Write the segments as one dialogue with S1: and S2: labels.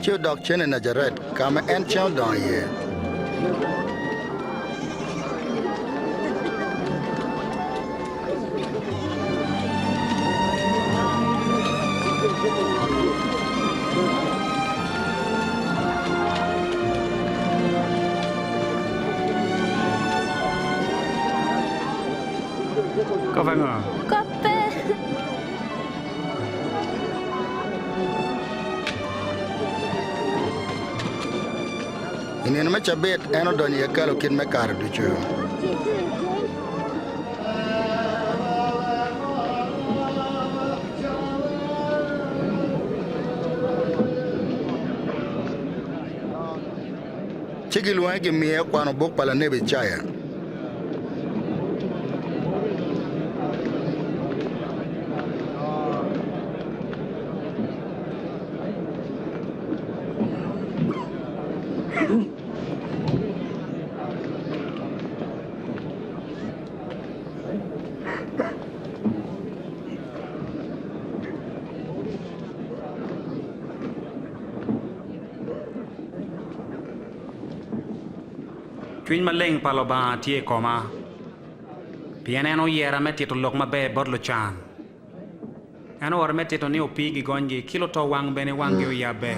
S1: ci odok cen i Najaret, ka ma en cen odongo iye. Kop ango? I nino me cabit en odonyo i hekalu kit me kare ducu. ci gilwonge gimiye kwano buk pa lanebi Icaya. Cwiny maleng pa Lubanga tye i koma, pien en oyera me tito lok maber bot lucan. En oora me tito ni opii gigonygi, ki lutowang bene wanggi oyabbe,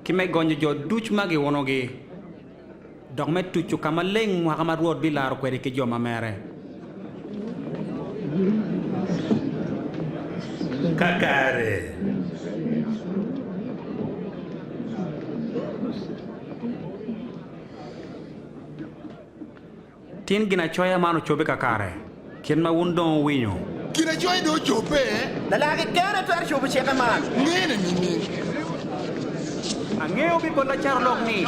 S1: ki me gonyo jo ducu ma giunogi. dok me tucu ka maleng mwaka ma Rwot bilaro kwede ki jo ma mere. Kakare Tin Ginacoya man ocobbe kakare, kit ma wun dong wuwinyo. Ginacoya dong ocobbe. Lala kekene twero cobo cike man. Ngene nining? Angeyo pi bot lacarolok ni,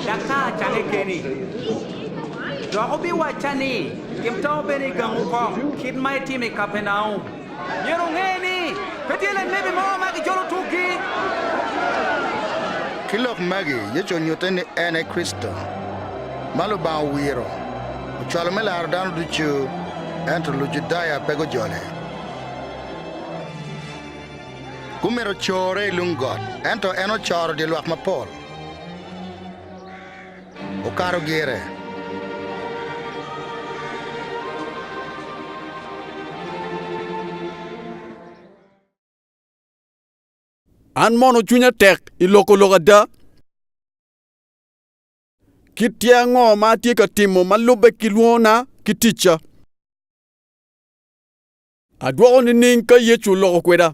S1: Daktar, acange keni. Dok wubiwacca ni, Tim tawo bene i gangu kok, kit ma itimo i Kapernaum. Myero wunge ni, pe tye lanebi mo ma gijolo tukgi. Ki lok magi, Yecu onyutte ni en aye Kricito, ma Lubanga owiro ocwalo me laro dano ducu. Ento Lujudaya pe gujole. Gumito corre i lung got, ento en ocoro dye lwak mapol. Okato gire. An mono cwinya tek i loko lok ada? Kit tyer ango ma atye ka timo ma lubbe ki lwongona ki ticca? Adwoko nining ka Yecu oloko kweda?